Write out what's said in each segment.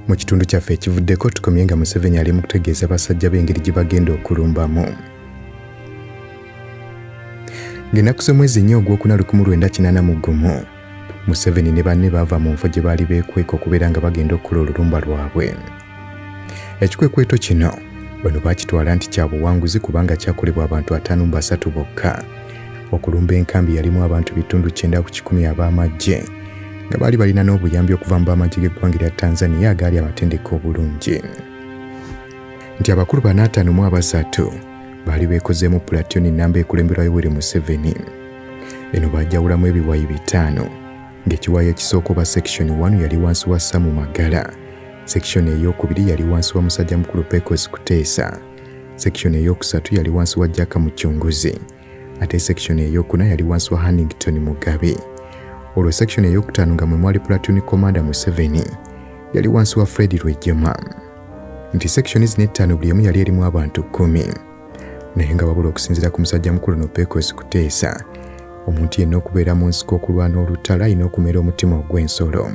mu kitundu kyaffe ekivuddeko tukomye nga museveni ali mu kutegeeza basajja b'engeri gye bagenda okulumbamu ng'ennaku z'omwezi nnyo ogw'okuna 19 mu gumu Museveni ne banne baava mu nfo gye baali beekweka okubeera nga bagenda okukola olulumba lwabwe. Ekikwekweto kino bano baakitwala nti kya buwanguzi kubanga kyakolebwa abantu ataano mu basatu bokka okulumba enkambi yalimu abantu bitundu kyenda ku kikumi ab'amaggye nga baali balina n'obuyambi okuva mu b'amaggye g'eggwanga erya Tanzania agaali amatendeka obulungi nti abakulu banaataano mu abasatu baali beekozeemu pulatiyoni nnamba ekulemberwa Yoweri Museveni. Eno baajawulamu ebiwayi bitaano ng'ekiwayi ekisooka oba sekishoni wanu yali wansi wa Samu Magala, sekishoni ey'okubiri yali wansi wa musajja mukulu Pecos Kuteesa, sekishoni ey'okusatu yali wansi wa Jaka Mucunguzi ate sekishoni ey'okuna yali wansi wa Hannington Mugabe. Olwo sekishoni ey'okutaano nga mwe mwali Platoon Commander Museveni yali wansi wa Fred Rwejema. Nti sekishoni zino ettaano buli emu yali erimu abantu kkumi. naye nga wabula okusinziira ku musajja mukulu no Pecos Kuteesa omuntu yenna okubeera mu nsiko okulwana olutalo alina okumera omutima ogw'ensolo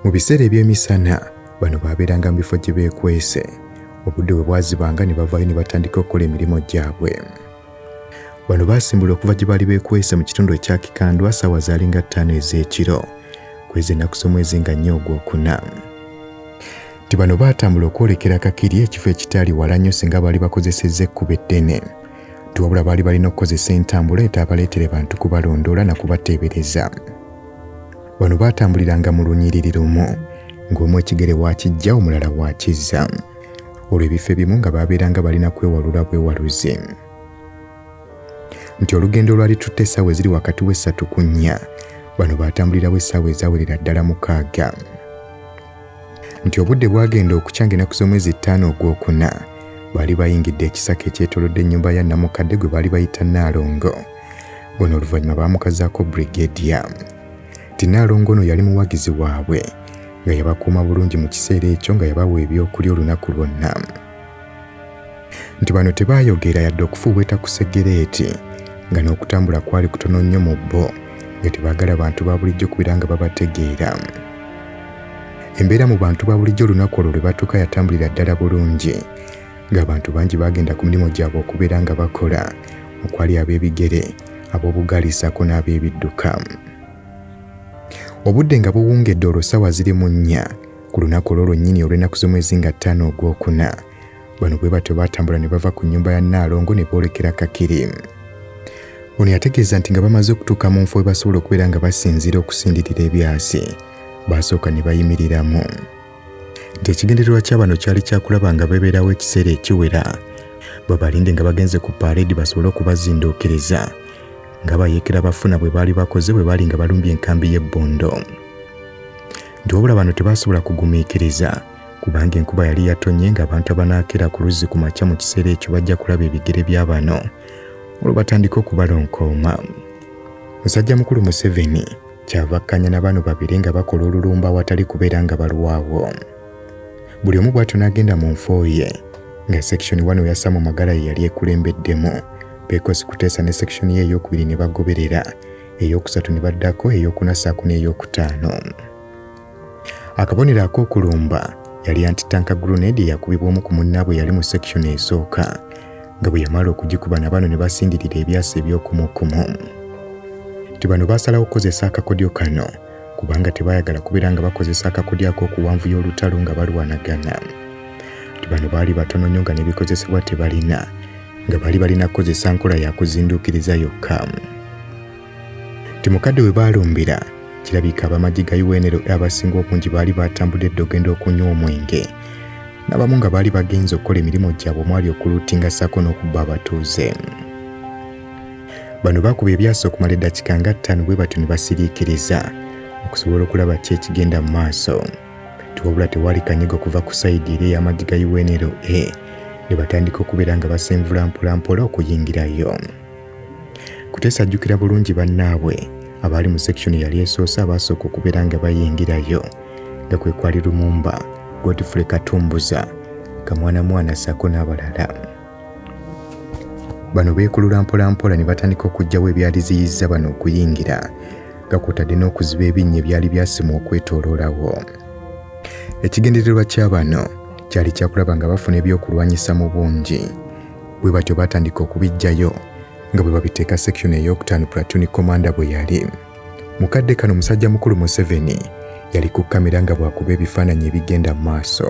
mu biseera eby'emisana bano baabeeranga mu bifo gye beekwese obudde bwe bwazibanga ne bavaayo ne batandika okukola emirimu gyabwe bano baasimbula okuva gye baali beekwese mu kitundu ekya kikandwa saawa zaalinga ttaano ez'ekiro kwezi ennaku z'omwezi nga nnyo ogwokuna nti bano baatambula okwolekera Kakiri ekifo ekitaali wala nnyo singa baali bakozesezza ekkubo eddene nti wabula baali balina okukozesa entambula etaabaleetere bantu kubalondoola na kubateebereza bano baatambuliranga mu lunyiriri lumu ng'omu ekigere waakijja omulala waakizza olwo ebifo ebimu nga baabeeranga balina kwewalula bwewaluze nti olugendo olwali tutte essaawa eziri wakati w'essatu ku nnya bano baatambulirawo essaawa ezawerera ddala mukaaga nti obudde bwagenda okukya ng'enaku z'omwezi ttaano ogw'okuna baali bayingidde ekisaka ekyetolodde ennyumba ya namukadde gwe baali bayita nnaalongo ono oluvannyuma baamukazaako brigedia nti nnaalongo ono yali muwagizi waabwe nga yabakuuma bulungi mu kiseera ekyo nga yabawa ebyokulya olunaku lwonna nti bano tebaayogera yadde okufuuweeta ku segereeti nga n'okutambula kwali kutono nnyo mu bo nga tebaagala bantu ba bulijjo kubeera nga babategeera embeera mu bantu ba bulijjo olunaku olwo lwe batuuka yatambulira ddala bulungi ng'abantu bangi baagenda ku mirimu gyabwe okubeera nga bakola okwali ab'ebigere ab'obugaali ssaako n'ab'ebidduka obudde nga buwungedde olwo ssaawa ziri mu nnya ku lunaku olwo lwennyini olw'ennaku z'omwezi nga ttaano ogwokuna bano bwe batyo baatambula ne bava ku nnyumba ya nnaalongo ne boolekera kakiri ono yategeeza nti nga bamaze okutuuka mu nfo we basobola okubeera nga basinziira okusindirira ebyasi baasooka ne bayimiriramu nti ekigendererwa kya bano kyali kyakulaba nga bebeerawo ekiseera ekiwera babalinde nga bagenze ku pareedi basobole okubazinduukiriza nga bayeekera bafuna bwe baali bakoze bwe baali nga balumbye enkambi y'ebbondo nti wabula bano tebaasobola kugumiikiriza kubanga enkuba yali yatonye ng'abantu abanaakera ku luzzi ku makya mu kiseera ekyo bajja kulaba ebigere bya bano olwo batandike okubalonkooma musajja mukulu museveni kyava akkanya na bano babiri nga bakola olulumba awatali kubeera nga balwawo buli omu bw'atyo n'agenda mu nfo ye nga sekishoni wano yassa mu magala ye yali ekulembeddemu beekosi kuteesa ne sekishoni ye ey'okubiri ne bagoberera ey'okusatu ne baddako ey'okuna ssaako n'ey'okutaano akabonero ak'okulumba yali antitanka grenade eyakubibwa omu ku munnaabwe yali mu section esooka nga bwe yamala okugikuba na bano ne basindirira ebyasa eby'okumukumu nti bano baasalawo okukozesa akakodyo kano kubanga tebaayagala kubeera nga bakozesa akakodyo ak'okuwanvu y'olutalo nga balwanagana nti bano baali batono nnyo nga n'ebikozesebwa tebalina nga bali balina kukozesa nkola ya kuzinduukiriza yokka nti mukadde we baalumbira kirabika abamagye ga unro abasinga obungi baali baatambudde edda ogenda okunywa omwenge n'abamu nga baali bagenze okukola emirimu gyabwe omwali okuluutinga ssaako n'okubba abatuuze bano bakuba ebyasa okumala eddakiika nga ttaano bwe batyo ne basiriikiriza okusobola okulaba ki ekigenda mu maaso tiwabula tewali kanyigo kuva ku sayidi eri ey'amaggi ga unra ne batandika okubeera nga basenvula mpolampola okuyingirayo kuteesa ajjukira bulungi bannaabwe abaali mu sekishoni yali esoose abaasooka okubeera nga bayingirayo nga kwe kwali lumumba godfrey katumbuza kamwanamwana ssaako n'abalala bano beekulula mpolampola ne batandika okuggyawo ebyali ziyizza bano okuyingira nga kwotadde n'okuziba ebinnya ebyali byasimwa okwetooloolawo ekigendererwa kya bano kyali kyakulaba nga bafuna ebyokulwanyisa mu bungi bwe batyo baatandika okubiggyayo nga bwe babiteeka sekishoni ey'okutaano pulatuni komanda bwe yali mu kadde kano musajja mukulu museveni yali ku kamera nga bwakuba ebifaananyi ebigenda mu maaso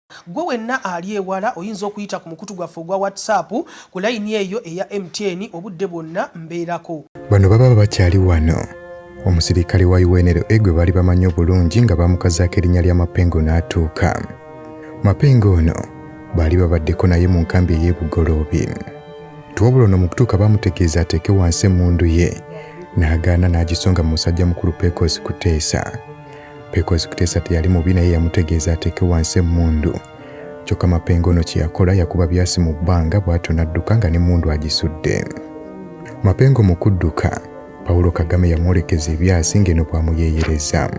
Ggwe wenna ali ewala oyinza okuyita ku mukutu gwaffe ogwa WhatsApp ku layini eyo eya MTN obudde bwonna mbeerako. Bano baba bakyali wano. Omusirikale wa UNLA gwe baali bamanyi obulungi nga baamukazaako erinnya lya Mapengo n'atuuka. Mapengo ono baali babaddeko naye mu nkambi ey'e Bugoloobi. Wabula ono mu kutuuka baamutegeeza ateeke wansi emmundu ye n'agaana n'agisonga mu musajja mukulu Pecos Kuteesa. Pekozi Kuteesa teyali mubi naye yamutegeeza ateeke wansi emmundu. Kyokka Mapengo ono kye yakola yakuba byasi mu bbanga bw'atyo n'adduka nga n'emmundu agisudde. Mapengo mu kudduka, Paulo Kagame yamwolekeza ebyasi ng'eno bw'amuyeeyereza.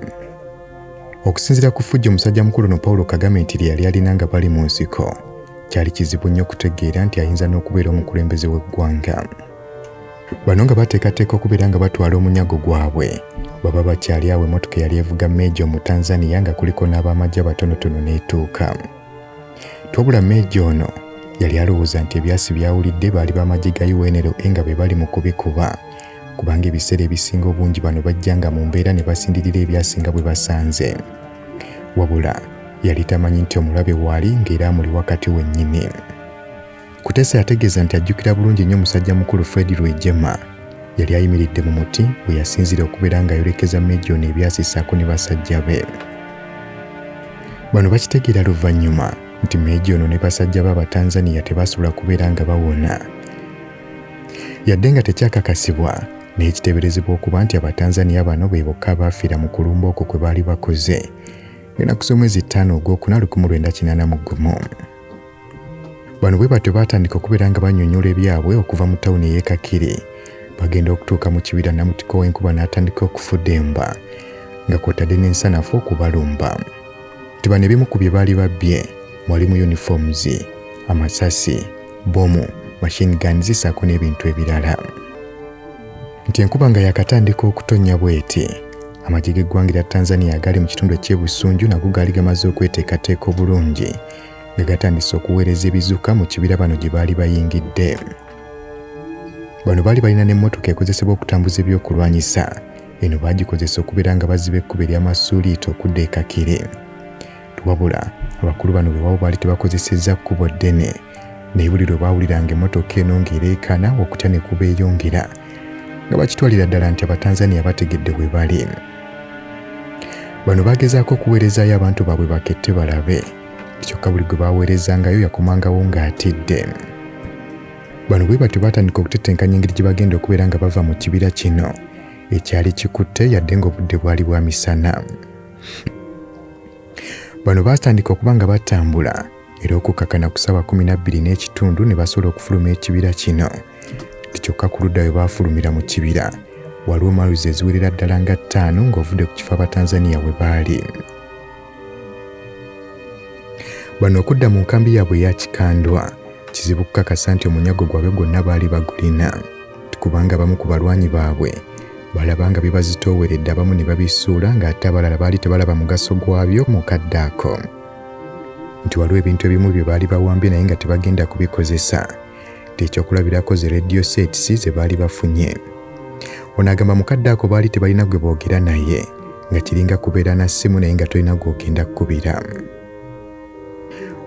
Okusinziira ku ffujjo musajja mukulu ono Paulo Kagame nti lye yali alina nga bali mu nsiko, kyali kizibu nnyo okutegeera nti ayinza n'okubeera omukulembeze w'eggwanga. Bano nga bateekateeka okubeera nga batwala omunyago gwabwe baba bakyali awo emotoka yali evuga meeja omutanzaniya nga kuliko n'abamagye abatonotono n'etuuka twabula meeja ono yali alowooza nti ebyasi byawulidde baali bamagye ga unl e nga be bali mu kubikuba kubanga ebiseera ebisinga obungi bano bajja nga mu mbeera ne basindirira ebyasinga bwe basanze wabula yali tamanyi nti omulabe waali ng'era amuli wakati wennyini Kutesa yategeeza nti ajjukira bulungi nnyo musajja mukulu Fred Rwejema yali ayimiridde mu muti we yasinzira okubeera ng'ayolekeza Mejooni ebyasi ssaako ne basajja be. Bano bakitegeera luvannyuma nti Mejooni ne basajja be Abatanzania tebasobola kubeera nga bawona. Yadde nga tekyakakasibwa naye kiteeberezebwa okuba nti Abatanzania bano be bokka abaafiira mu kulumba okwo kwe baali bakoze ng'enaku z'omwezi ttaano ogwokuna 1981. bano bwe batyo baatandika okubeera nga banyonyola ebyabwe okuva mu tawuni ey'ekakiri bagenda okutuuka mu kibira namutiko w'enkuba n'atandika okufudemba nga kwotadde n'ensanafu okubalumba nti bano ebimu ku bye baali babbye mwalimu uniforms amasasi bomu machine guns saako n'ebintu ebirala nti enkuba nga yakatandika okutonnya bweti amagye g'eggwanga erya tanzania agali mu kitundu ekyebusunju nago gaali gamaze okweteekateeka obulungi nga gatandise okuweereza ebizuka mu kibira bano gye baali bayingidde bano baali balina n'emmotoka ekozesebwa okutambuza ebyokulwanyisa eno baagikozesa okubeera nga baziba ekkuba ery'amasuuliito okudda e kakiri Wabula abakulu bano wewawo baali tebakozesezza kkubo ddene, naye buli lwe baawuliranga emmotoka eno ng'ereekaana okutya ne kubeeyongera nga bakitwalira ddala nti Abatanzania bategedde we bali. Bano baagezaako okuweerezaayo abantu baabwe bakette balabe, kyokka buli gwe baaweerezangayo yakomangawo ng'atidde. Bano bwe batyo baatandika okutetenkanya engeri gye bagenda okubeera nga bava mu kibira kino ekyali kikutte yadde ng'obudde bwali bwa misana. bano baatandika okuba nga batambula era okukkakana ku ssaawa kumi na bbiri n'ekitundu ne basobola okufuluma ekibira kino kyokka ku ludda we baafulumira mu kibira waliwo maluzi eziwerera ddala nga ttaano ng'ovudde ku kifo abatanzaniya we baali bano okudda mu nkambi yaabwe eyakikandwa kizibu kukakasa nti omunyago gwabwe gwonna baali bagulina kubanga abamu ku balwanyi baabwe balaba nga bibazitooweredde abamu ne babisuula ng'ate abalala baali tebalaba mugaso gwabyo mu kadde ako nti waliwo ebintu ebimu bye baali bawambye naye nga tebagenda kubikozesa tekyokulabirako ze radio sets ze baali bafunye ono agamba mu kadde ako baali tebalina gwe boogera naye nga kiringa kubeera na ssimu naye nga tolina gw'ogenda kukubira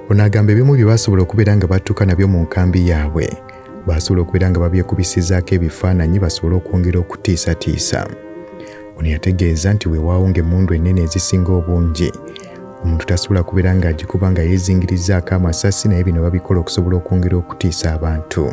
ono agamba ebimu bye basobola okubeera nga batuuka nabyo mu nkambi yaabwe baasobola okubeera nga babyekubisizaako ebifaananyi basobole okwongera okutiisatiisa ono yategeeza nti weewaawo ng'emmundu ennene ezisinga obungi omuntu tasobola kubeera ng'agikuba nga yeezingirizaako amasasi naye bino babikola okusobola okwongera okutiisa abantu